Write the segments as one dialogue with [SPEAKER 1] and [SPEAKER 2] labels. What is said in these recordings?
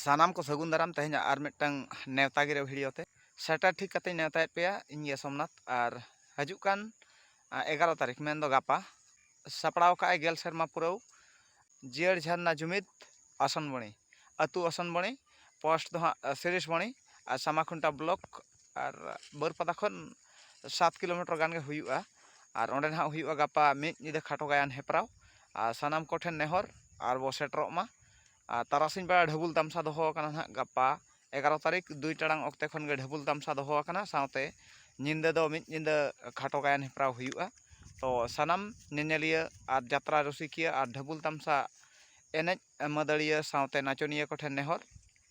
[SPEAKER 1] ᱥᱟᱱᱟᱢ ᱠᱚ ᱥᱟᱹᱜᱩᱱ ᱫᱟᱨᱟᱢ ᱛᱮᱦᱮᱧᱟᱜ ᱟᱨ ᱢᱤᱫᱴᱟᱝ ᱱᱮᱣᱛᱟ ᱜᱤᱨᱟᱹ ᱵᱷᱤᱰᱤᱭᱳ ᱛᱮ ᱥᱮᱴᱮᱨ ᱴᱷᱤᱠ ᱠᱟᱛᱮᱧ ᱱᱮᱣᱛᱟᱭᱮᱫ ᱯᱮᱭᱟ ᱤᱧ ᱜᱮ ᱥᱚᱢᱱᱟᱛᱷ ᱟᱨ ᱦᱤᱡᱩᱜ ᱠᱟᱱ ᱮᱜᱟᱨᱚ ᱛᱟᱹᱨᱤᱠᱷ ᱢᱮᱱᱫᱚ ᱜᱟᱯᱟ ᱥᱟᱯᱲᱟᱣ ᱠᱟᱜᱼᱟᱭ ᱜᱮᱞ ᱥᱮᱨᱢᱟ ᱯᱩᱨᱟᱹᱣ ᱡᱤᱭᱟᱹᱲ ᱡᱷᱟᱨᱱᱟ ᱡᱩᱢᱤᱫ ᱟᱥᱚᱱᱵᱚᱬᱤ ᱟᱹᱛᱩ ᱟᱥᱚᱱᱵᱚᱬᱤ ᱯᱳᱥᱴ ᱫᱚ ᱦᱟᱸᱜ ᱥᱤᱨᱤᱥᱵᱚᱬᱤ ᱟᱨ ᱥᱟᱢᱟᱠᱷᱩᱱᱴᱟ ᱵᱞᱚᱠ ᱟᱨ ᱵᱟᱹᱨᱯᱟᱫᱟ ᱠᱷᱚᱱ ᱥᱟᱛ ᱠᱤᱞᱳᱢᱤᱴᱟᱨ ᱜᱟᱱ ᱜᱮ ᱦᱩᱭᱩᱜᱼᱟ ᱟᱨ ᱚᱸᱰᱮ ᱱᱟᱦᱟᱜ ᱦᱩᱭᱩᱜᱼᱟ ᱜᱟᱯᱟ ᱢᱤᱫ ᱧᱤᱫᱟᱹ ᱠᱷᱟᱴᱚ ᱜᱟᱭᱟᱱ ᱦᱮᱯᱨᱟᱣ ᱟᱨ ᱥᱟᱱᱟᱢ ᱠᱚᱴᱷᱮᱱ ᱱᱮᱦᱚᱨ ᱟᱨ ᱵᱚ ᱥᱮᱴᱮᱨᱚᱜ ᱢᱟ ᱟᱨ ᱛᱟᱨᱟᱥᱤᱧ ᱵᱮᱲᱟ ᱰᱷᱟᱹᱵᱩᱞ ᱛᱟᱢᱥᱟ ᱫᱚᱦᱚ ᱟᱠᱟᱱᱟ ᱱᱟᱜ ᱜᱟᱯᱟ ᱮᱜᱟᱨᱚ ᱛᱟᱹᱨᱤᱠᱷ ᱫᱩᱭ ᱴᱟᱲᱟᱝ ᱚᱠᱛᱮ ᱠᱷᱚᱱ ᱜᱮ ᱰᱷᱟᱹᱵᱩᱞ ᱛᱟᱢᱥᱟ ᱫᱚᱦᱚ ᱟᱠᱟᱱᱟ ᱥᱟᱶᱛᱮ ᱧᱤᱫᱟᱹ ᱫᱚ ᱢᱤᱫ ᱧᱤᱫᱟᱹ ᱠᱷᱟᱴᱚ ᱜᱟᱭᱟᱱ ᱦᱮᱯᱨᱟᱣ ᱦᱩᱭᱩᱜᱼᱟ ᱛᱚ ᱥᱟᱱᱟᱢ ᱧᱮᱧᱮᱞᱤᱭᱟᱹ ᱟᱨ ᱡᱟᱛᱨᱟ ᱨᱩᱥᱤᱠᱤᱭᱟᱹ ᱟᱨ ᱰᱷᱟᱹᱵᱩᱞ ᱛᱟᱢᱥᱟ ᱮᱱᱮᱡ ᱢᱟᱹᱫᱟᱹᱲᱤᱭᱟᱹ ᱥᱟᱶᱛᱮ ᱱᱟᱪᱚᱱᱤᱭᱟᱹ ᱠᱚᱴᱷᱮᱱ ᱱᱮᱦᱚᱨ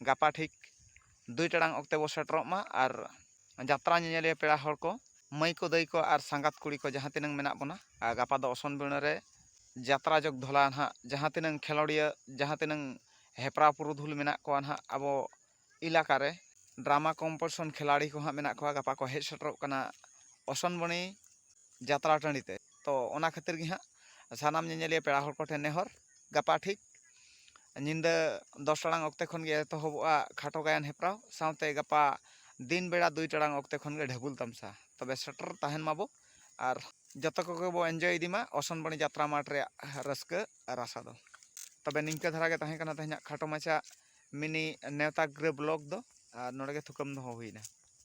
[SPEAKER 1] ᱜᱟᱯᱟ ᱴᱷᱤᱠ ᱫᱩᱭ ᱴᱟᱲᱟᱝ ᱚᱠᱛᱮ ᱵᱚᱱ ᱥᱮᱴᱮᱨᱚᱜ ᱢᱟ ᱟᱨ ᱡᱟᱛᱨᱟ ᱧᱮᱧᱮᱞᱤᱭᱟᱹ ᱯᱮᱲᱟ ᱦᱚᱲ ᱠᱚ ᱢᱟᱹᱭ ᱠᱚ ᱫᱟᱹᱭ ᱠᱚ ᱟᱨ ᱥᱟᱸᱜᱟᱛ ᱠᱩᱲᱤ ᱠᱚ ᱡᱟᱦᱟᱸ ᱛᱤᱱᱟᱹᱝ ᱢᱮᱱᱟᱜ ᱵᱚᱱᱟ ᱟᱨ ᱜᱟᱯᱟ ᱫᱚ ᱚᱥᱚᱱ ᱵᱤᱬᱟᱹ ᱨᱮ ᱡᱟᱛᱨᱟ ᱡᱚᱜᱽ ᱫᱷᱚᱞᱟ ᱱᱟᱦᱟᱜ ᱡᱟᱦᱟᱸ ᱛᱤᱱᱟᱹᱝ ᱠᱷᱮᱞᱳᱰᱤᱭᱟᱹ ᱡᱟᱦᱟᱸ ᱛᱤᱱᱟᱹᱝ ᱦᱮᱯᱨᱟᱣ ᱯᱩᱨᱩᱫᱷᱩᱞ ᱢᱮᱱᱟᱜ ᱠᱚᱣᱟ ᱱᱟᱦᱟᱜ ᱟᱵᱚ ᱮᱞᱟᱠᱟ ᱨᱮ ᱰᱨᱟᱢᱟ ᱠᱚᱢᱯᱤᱴᱤᱥᱚᱱ ᱠᱷᱮᱞᱟᱲᱤ ᱠᱚ ᱦᱟᱸᱜ ᱢᱮᱱᱟᱜ ᱠᱚᱣᱟ ᱜᱟᱯᱟ ᱠᱚ ᱦᱮᱡ ᱥᱮᱴᱮᱨᱚᱜ ᱠᱟᱱᱟ ᱚᱥᱚᱱ ᱵᱤᱬᱤ ᱡᱟᱛᱨᱟ ᱴᱟᱺᱰᱤ ᱛᱮ ᱛᱚ ᱚᱱᱟ ᱠᱷᱟᱹᱛᱤᱨ ᱜᱮ ᱦᱟᱸᱜ ᱥᱟᱱᱟᱢ ᱧᱮᱧᱮᱞᱤᱭᱟᱹ ᱯᱮᱲᱟ ᱦᱚᱲ ᱠᱚᱴᱷᱮᱱ ᱱᱮᱦᱚᱨ ᱜᱟᱯᱟ ᱴᱷᱤᱠ ᱧᱤᱫᱟᱹ ᱫᱚᱥ ᱴᱟᱲᱟᱝ ᱚᱠᱛᱮ ᱠᱷᱚᱱ ᱜᱮ ᱮᱛᱚᱦᱚᱵᱚᱜᱼᱟ ᱠᱷᱟᱴᱚ ᱜᱟᱭᱟᱱ ᱦᱮᱯᱨᱟᱣ ᱥᱟᱶᱛᱮ ᱜᱟᱯᱟ ᱫᱤᱱ ᱵᱮᱲᱟ ᱫᱩᱭ ᱴᱟᱲᱟᱝ ᱚᱠᱛᱮ ᱠᱷᱚᱱ ᱜᱮ ᱰᱷᱟᱹᱵᱩᱞ ᱛᱟᱢᱥᱟ ᱛᱚᱵᱮ ᱥᱮᱴᱮᱨ ᱛᱟᱦᱮᱱ ᱢᱟᱵᱚ ᱟᱨ ᱡᱚᱛᱚ ᱠᱚᱜᱮ ᱵᱚ ᱤᱱᱡᱚᱭ ᱤᱫᱤ ᱢᱟ ᱚᱥᱚᱱᱵᱟᱹᱲᱤ ᱡᱟᱛᱨᱟ ᱢᱟᱴᱷ ᱨᱮᱭᱟᱜ ᱨᱟᱹᱥᱠᱟᱹ ᱨᱟᱥᱟ ᱫᱚ ᱛᱚᱵᱮ ᱱᱤᱝᱠᱟᱹ ᱫᱷᱟᱨᱟ ᱜᱮ ᱛᱟᱦᱮᱸ ᱠᱟᱱᱟ ᱛᱮᱦᱮᱧᱟᱜ ᱠᱷᱟᱴᱚ ᱢᱟᱪᱷᱟ ᱢᱤᱱᱤ ᱱᱮᱣᱛᱟ ᱜᱤᱨᱟᱹ ᱵᱞᱚᱜᱽ ᱫᱚ ᱟᱨ ᱱᱚᱰᱮ ᱜᱮ ᱛᱷᱩᱠᱟᱹᱢ ᱫᱚᱦᱚ ᱦᱩᱭᱱᱟ